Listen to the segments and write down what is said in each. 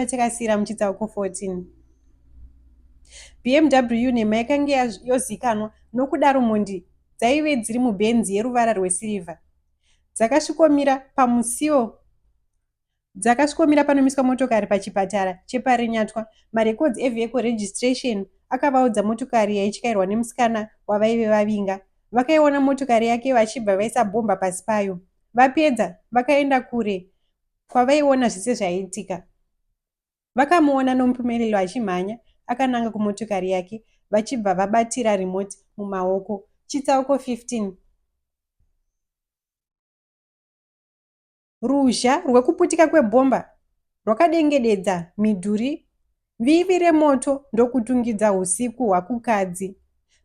takasiyira muchitsauko 14 bmw nhema yakange yozikanwa nokudaro mhondi dzaive dziri mubhenzi yeruvara rwesirivha dzakasvikomira pamusiwo Dzakasvikomira panomiswa motokari pachipatara cheParinyatwa, marekodzi evehicle registration akavaudza motokari yaityairwa nemusikana wavaive vavinga. Vakaiona motokari yake vachibva vaisa bhomba pasi payo. Vapedza, vakaenda kure kwavaiona zvese zvaiitika. Vakamuona Nompumelelo achimhanya akananga kumotokari yake vachibva vabatira remote mumaoko. Chitsauko 15. Ruzha rwekuputika kwebhomba rwakadengededza midhuri vivi remoto ndokutungidza husiku hwakukadzi.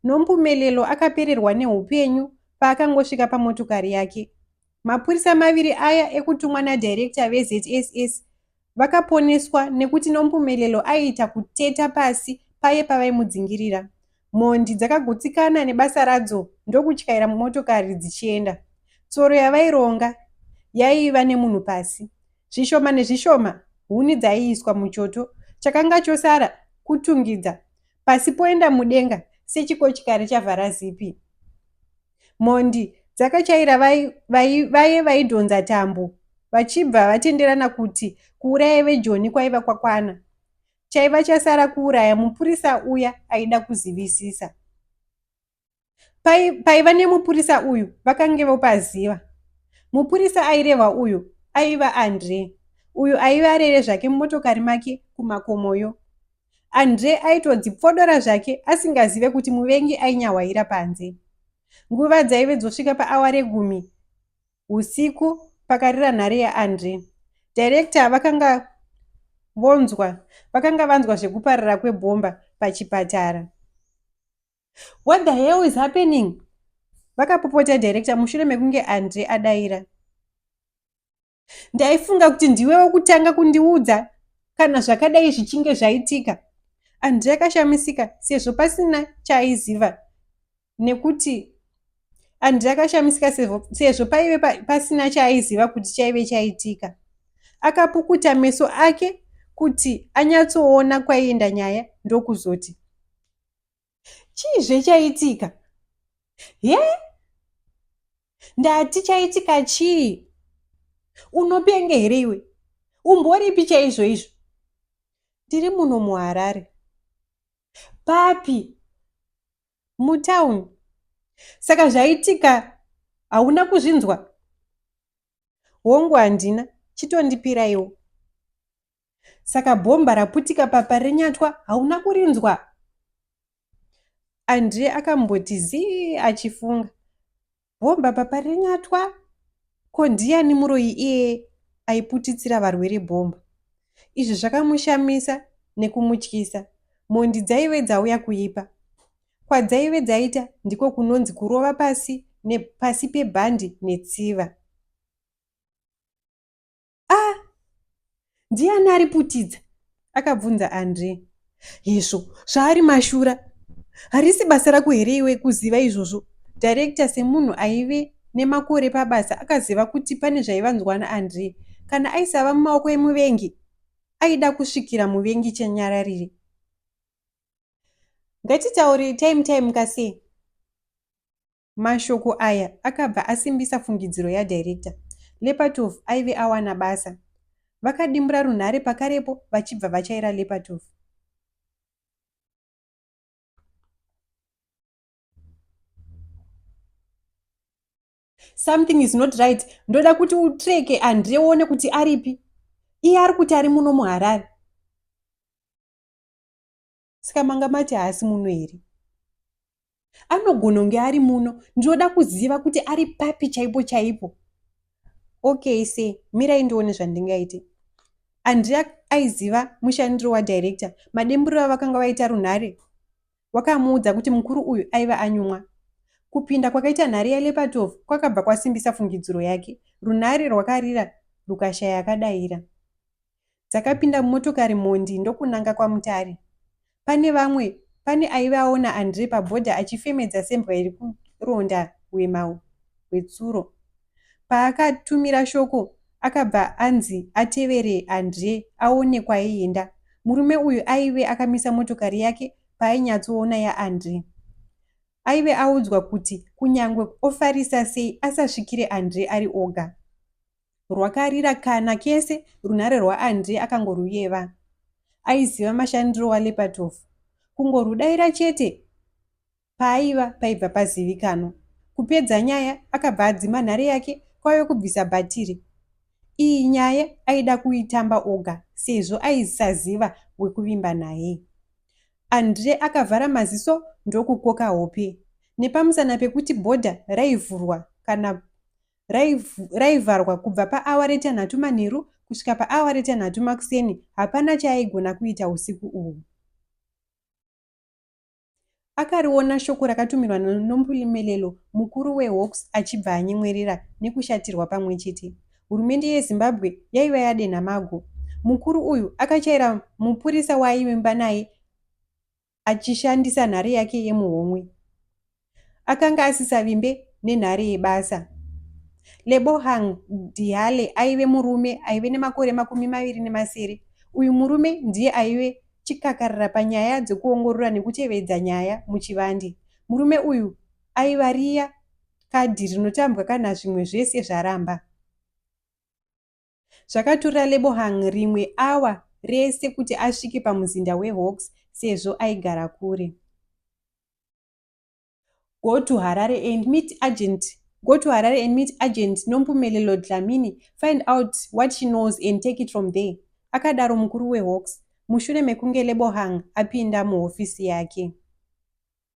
Nompumelelo akapererwa nehupenyu paakangosvika pamotokari yake. Mapurisa maviri aya ekutumwa nadirector veZSS Vakaponeswa nekuti Nompumelelo aiita kuteta pasi paye pavaimudzingirira. Mhondi dzakagutsikana nebasa radzo ndokutyaira mumotokari dzichienda. Tsoro yavaironga yaiva nemunhu pasi. Zvishoma nezvishoma huni dzaiiswa muchoto. Chakanga chosara kutungidza pasi poenda mudenga sechikochikari chavhara zipi. Mhondi dzakachaira vaye vaidhonza tambo vachibva vatenderana kuti kuuraya vejoni kwaiva kwakwana chaiva chasara kuuraya mupurisa uya aida kuzivisisa paiva nemupurisa uyu vakange vopaziva mupurisa airehwa uyu aiva andre uyu aiva arere zvake mumotokari make kumakomoyo Andre aitodzipfodora zvake asingazive kuti muvengi ainyahwaira panze. Nguva dzaive dzosvika paawa regumi usiku pakarira nhare yaAndre. Director vakanga vonzwa vakanga vanzwa zvekuparara kwebhomba pachipatara. What the hell is happening? Vakapopota director mushure mekunge Andre adaira. ndaifunga kuti ndiwe wekutanga kundiudza kana zvakadai zvichinge zvaitika andrei akashamisika sezvo pasina chaaiziva nekuti andrei akashamisika sezvo paive pasina chaaiziva kuti chaive chaitika akapukuta meso ake kuti anyatsoona kwaienda nyaya ndokuzoti chii zvechaitika he ndati chaitika chii unopenge here iwe umboripi chaizvo izvo ndiri muno muharare papi mutown saka zvaitika hauna kuzvinzwa hongu handina chitondipiraiwo saka bhomba raputika papa renyatwa hauna kurinzwa andie akamboti zii achifunga bhomba papa renyatwa ko ndiyani muroyi iye aiputitsira varwere bhomba izvi zvakamushamisa nekumutyisa mhondi dzaive dzauya kuipa kwadzaive dzaita ndiko kunonzi kurova pasi nepasi pebhandi netsiva ah ndiani ari putidza akabvunza andre hezvo zvaari mashura harisi basa rako here iwe kuziva izvozvo director semunhu aive nemakore pabasa akaziva kuti pane zvaivanzwa naandrey kana aisava mumaoko emuvengi aida kusvikira muvengi chenyararire ngatitaure time time kasei Mashoko aya akabva asimbisa fungidziro yadirector. Lepatov aive awana basa. Vakadimbura runhare pakarepo vachibva vachaira Lepatov. Something is not right. Ndoda kuti utreke Andre uone kuti aripi. Iye ari kuti ari muno muHarare. saka manga mati haasi muno here anogononge ari muno ndinoda kuziva kuti ari papi chaipo chaipo okay se mirai ndione zvandingaite andrea aiziva mushandiro wadirector mademburo avakanga vaita runhare wakamuudza kuti mukuru uyu aiva anyumwa kupinda kwakaita nhare yalepatov kwakabva kwasimbisa fungidziro yake runhare rwakarira rukashaya akadaira dzakapinda mumotokari mhondi ndokunanga kwaMutare. Pane vamwe pane aive aona Andre pabhodha achifemedza sembwa iri kuronda hwema hwetsuro. Paakatumira shoko akabva anzi atevere Andre aone kwaienda. Murume uyu aive akamisa motokari yake paainyatsoona yaAndre. Aive audzwa kuti kunyangwe ofarisa sei asasvikire Andre ari oga. Rwakarira kana kese runhare rwaAndre akangoruyeva. Aiziva mashandiro waLepatov. Kungorudaira chete paaiva paibva pazivikanwa. Kupedza nyaya akabva adzima nhare yake kwave kubvisa bhatiri. Iyi nyaya aida kuitamba oga sezvo aisaziva wekuvimba naye. Andre akavhara maziso ndokukoka hope. Nepamusana pekuti bhodha raivhurwa kana raivharwa kubva paawa retanhatu manheru kusvika paawa retanhatu makuseni hapana chaaigona kuita usiku uhwu akariona shoko rakatumirwa nomulimelelo mukuru wehawks achibva anyemwerera nekushatirwa pamwe chete hurumende yezimbabwe yaiva yadenha mago mukuru uyu akachaira mupurisa waaivimba naye achishandisa nhare yake yemuhomwe. Akanga asisavimbe nenhare yebasa. Lebohang Diale aive murume aive nemakore makumi maviri nemasere. Uyu murume ndiye aive chikakarira panyaya dzekuongorora nekutevedza nyaya muchivande. Murume uyu aiva riya kadhi rinotambwa kana zvimwe zvese zvaramba. Zvakatora Lebohang rimwe awa rese kuti asvike pamuzinda weHawks sezvo aigara kure. Go to Harare and meet agent Go to Harare and meet agent Nompumelelo Dlamini, find out what she knows and take it from there, akadaro mukuru weHawks mushure mekunge Lebohang apinda muhofisi yake.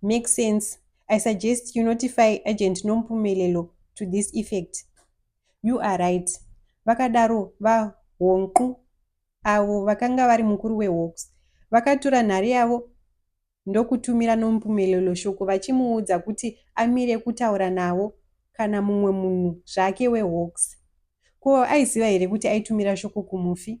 Makes sense. I suggest you notify agent Nompumelelo to this effect. You are right. Vakadaro vaHonqu avo vakanga vari mukuru weHawks. Vakatura nhare yavo ndokutumira Nompumelelo shoko vachimuudza kuti amire kutaura navo kana mumwe munhu zvake weHawks. Ko aiziva here kuti aitumira shoko kumufi?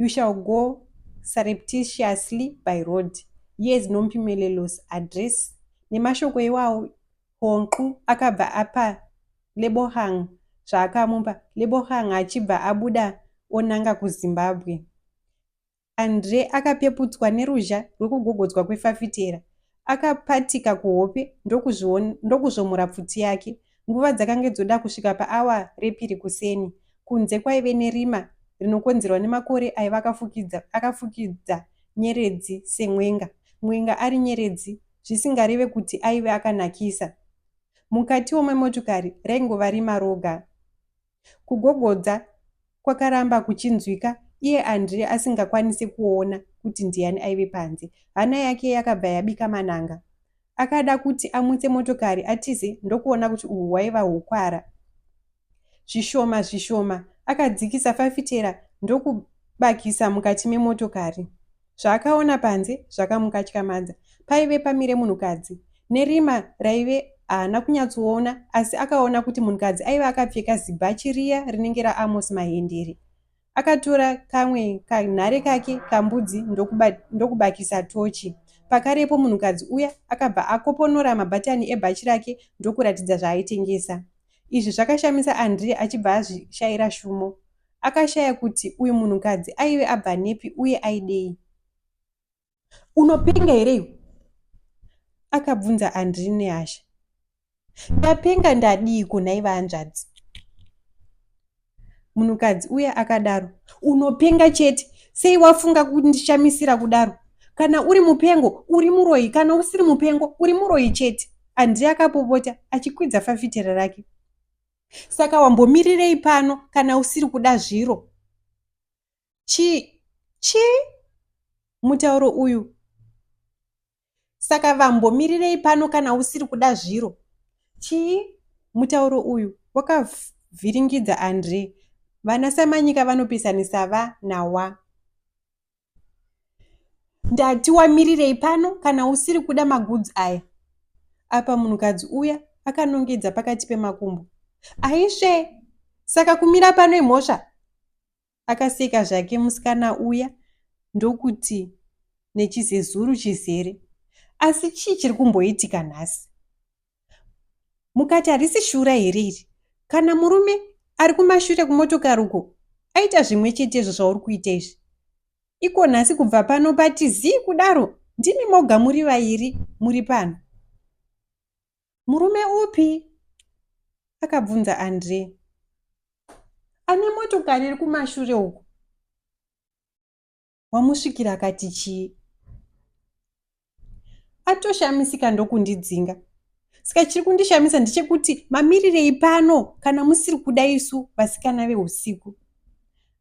you shall go surreptitiously by road years nompimelelous address nemashoko iwawo honqu akabva apa lebohang zvaakamupa lebohang achibva abuda onanga kuzimbabwe andre akapeputswa neruzha rwekugogodzwa kwefafitera Akapatika kuhope ndokuzvomora pfuti yake. Nguva dzakange dzoda kusvika paawa repiri kuseni. Kunze kwaive nerima rinokonzerwa nemakore aiva akafukidza akafukidza nyeredzi semwenga. Mwenga ari nyeredzi zvisingareve kuti aive akanakisa. Mukatiwo memotokari raingova rima roga. Kugogodza kwakaramba kuchinzwika iye Andre asingakwanise kuona kuti ndiani aive panze. Hana yake yakabva yabika mananga. Akada kuti amutse motokari atize ndokuona kuti uhu hwaiva hukwara. Zvishoma zvishoma akadzikisa fafitera ndokubakisa mukati memotokari. Zvaakaona panze zvakamukatyamadza. Paive pamire munhukadzi. Nerima raive haana kunyatsoona asi akaona kuti munhukadzi aive akapfeka zibhachi riya rinenge raAmos Mahendere. Akatora kamwe kanhare kake kambudzi ndokuba, ndokubakisa tochi. Pakarepo munhukadzi uya akabva akoponora mabhatani ebhachi rake ndokuratidza zvaaitengesa. Izvi zvakashamisa Andre achibva azvishaira shumo. Akashaya kuti uyu munhukadzi aive abva nepi uye aidei. Unopenga here iwe? Akabvunza Andri nehasha. Ndapenga ndadiiko nhai vahanzvadzi? Munhukadzi uye akadaro. Unopenga chete, sei wafunga kundishamisira kudaro? Kana uri mupengo, uri muroyi, kana usiri mupengo, uri muroyi chete. Andri akapopota achikwidza fafitera rake. saka wambomirirei pano kana usiri kuda zviro chii chii mutauro uyu saka vambomirirei pano kana usiri kuda zviro chii mutauro uyu wakavhiringidza andre vana samanyika vanopesanisa va nawa ndati wamirirei pano kana usiri kuda magudzi aya apa munhukadzi uya akanongedza pakati pemakumbo aisve saka kumira pano imhosva akaseka zvake musikana uya ndokuti nechizezuru chizere asi chii chiri kumboitika nhasi mukati harisi shura here iri kana murume ari kumashure kumotokari uko aita zvimwe chetezvo zvauri kuita izvi iko nhasi kubva pano pati zii kudaro ndimi moga muri vairi muri pano murume upi akabvunza andre ane motokari iri kumashure uku wamusvikira akati chii atoshamisika ndokundidzinga saka chiri kundishamisa ndechekuti mamirirei pano kana musiri kuda isu vasikana veusiku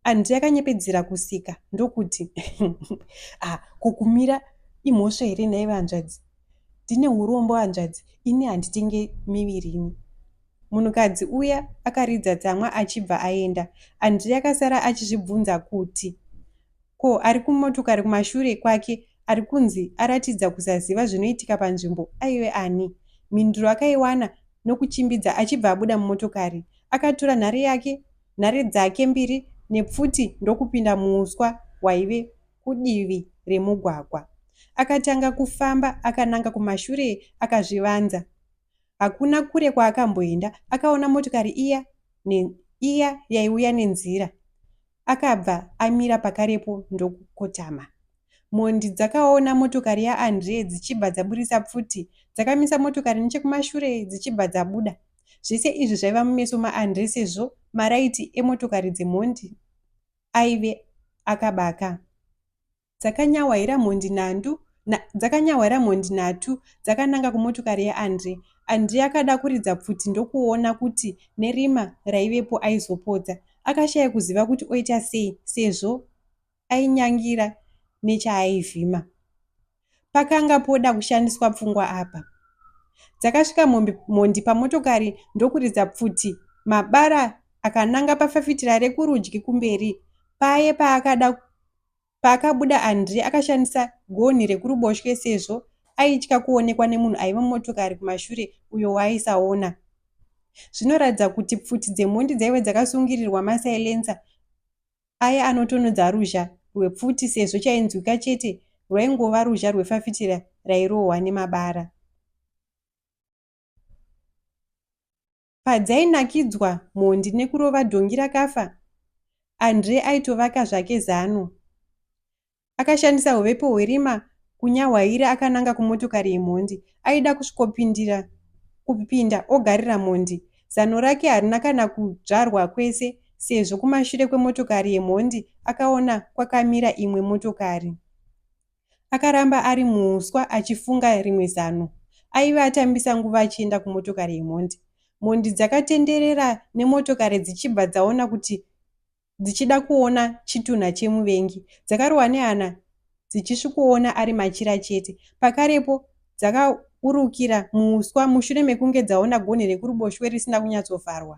andi yakanyepedzera kusika ndokuti ah, kukumira imhosva here nhai vanzvadzi ndine urombo hanzvadzi ini handitenge miviri ini Munhukadzi uya akaridza tsamwa achibva aenda. Andrei akasara achizvibvunza kuti ko ari kumotokari kumashure kwake ari kunzi aratidza kusaziva zvinoitika panzvimbo aive ani? Mhinduro akaiwana nokuchimbidza achibva abuda mumotokari. Akatora nhare yake, nhare dzake mbiri nepfuti ndokupinda muuswa hwaive kudivi remugwagwa. Akatanga kufamba akananga kumashure akazvivanza. Hakuna kure kwaakamboenda akaona motokari iya ne iya yaiuya nenzira. Akabva amira pakarepo ndokukotama. Mhondi dzakaona motokari ya Andre dzichibva dzaburitsa pfuti dzakamisa motokari nechekumashure dzichibva dzabuda. Zvese izvi zvaiva mumeso ma Andre sezvo maraiti emotokari dzemhondi aive akabaka. dzakanyahwaira mhondi nhandu na, dzakanyahwaira mhondi nhatu dzakananga kumotokari yaAndré. André akada kuridza pfuti ndokuona kuti nerima raivepo aizopodza. Akashaya kuziva kuti oita sei sezvo ainyangira nechaaivhima. Pakanga poda kushandiswa pfungwa apa. Dzakasvika mombe, mhondi pamotokari ndokuridza pfuti mabara akananga pafafitira rekurudyi kumberi paye paakada Paakabuda, André akashandisa gonhi rekuruboshwe sezvo aitya kuonekwa nemunhu aiva mumotokari kumashure uyo waaisaona. Zvinoratidza kuti pfuti dzemhondi dzaive dzakasungirirwa masilencer aya anotonodza ruzha rwepfuti sezvo chainzwika chete rwaingova ruzha rwefafitera rairohwa nemabara. padzainakidzwa mhondi nekurova dhongi rakafa, Andre aitovaka zvake zano. Akashandisa huvepo hwerima kunyahwaira akananga kumotokari yemhondi. Aida kusvikopindira kupinda ogarira mhondi. Zano rake harina kana kudzvarwa kwese sezvo kumashure kwemotokari yemhondi akaona kwakamira imwe motokari. Akaramba ari muhuswa achifunga rimwe zano. Aive atambisa nguva achienda kumotokari yemhondi. Mhondi dzakatenderera nemotokari dzichibva dzaona kuti dzichida kuona chitunha chemuvengi. Dzakarohwa nehana dzichisvikoona ari machira chete. Pakarepo dzakaurukira muhuswa mushure mekunge dzaona gonhi rekuruboshwe risina kunyatsovharwa.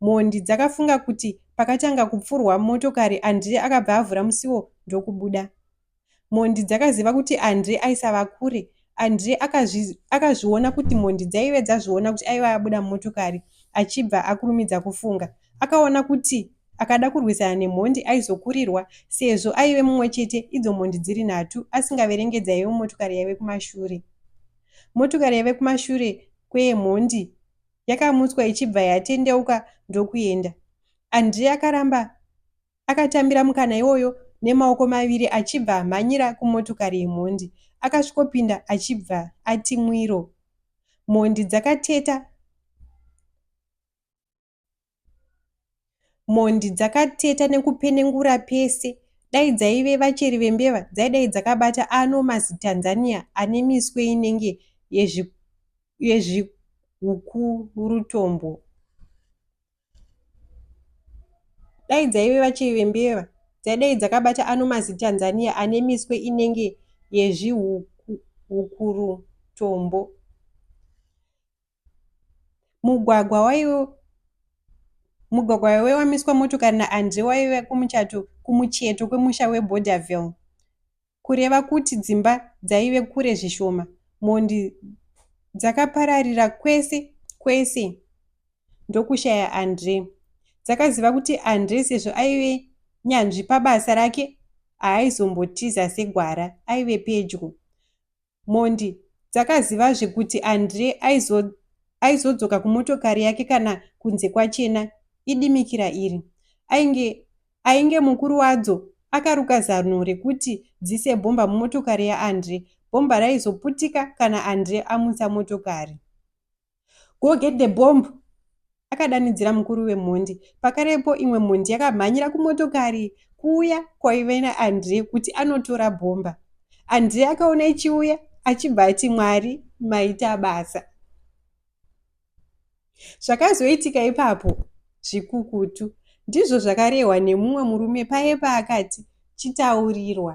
Mhondi dzakafunga kuti pakatanga kupfurwa motokari Andire akabva avhura musiwo ndokubuda. Mhondi dzakaziva kuti Andre aisava kure. Andre akazvi, akazviona kuti mhondi dzaive dzazviona kuti aive abuda mumotokari achibva akurumidza kufunga. Akaona kuti akada kurwisana nemhondi aizokurirwa sezvo aive mumwe chete idzo mhondi dziri nhatu asingaverenge dzaive mumotokari yaive kumashure. Motokari yaive kumashure kweyemhondi yakamutswa ichibva yatendeuka ndokuenda. Andre akaramba Akatambira mukana iwoyo nemaoko maviri achibva amhanyira kumotokari yemhondi. Akasvikopinda achibva ati mwiro. Mhondi dzakateta Mhondi dzakateta nekupenengura pese. Dai dzaive vacheri vembeva dzaidai dzakabata ano mazitanzania ane miswe inenge yezvi, yezvihukurutombo. Dai dzaive Chivimbiva dzaidai dzakabata ano maziTanzania ane miswe inenge yezvihukurutombo. Mugwagwa waive mugwagwa waive wamiswa motokari naAndre waive kumuchato kumucheto kwemusha weBorderville. kureva kuti dzimba dzaive kure zvishoma. Mhondi dzakapararira kwese kwese ndokushaya Andre. Dzakaziva kuti Andre sezvo aive nyanzvi pabasa rake haaizombotiza segwara, aive pedyo. Mhondi dzakazivazve kuti Andre aizo aizodzoka kumotokari yake kana kunze kwachena idimikira iri. Ainge, ainge mukuru wadzo akaruka zano rekuti dzise bhomba mumotokari yaAndre. Bhomba raizoputika kana Andre amutsa motokari. Go get the bomb! akadanidzira mukuru wemhondi. Pakarepo imwe mhondi yakamhanyira kumotokari kuuya kwaive naandre kuti anotora bhomba. Andre akaona ichiuya achibva ati Mwari maita basa. Zvakazoitika ipapo zvikukutu ndizvo zvakarehwa nemumwe murume paye paakati chitaurirwa.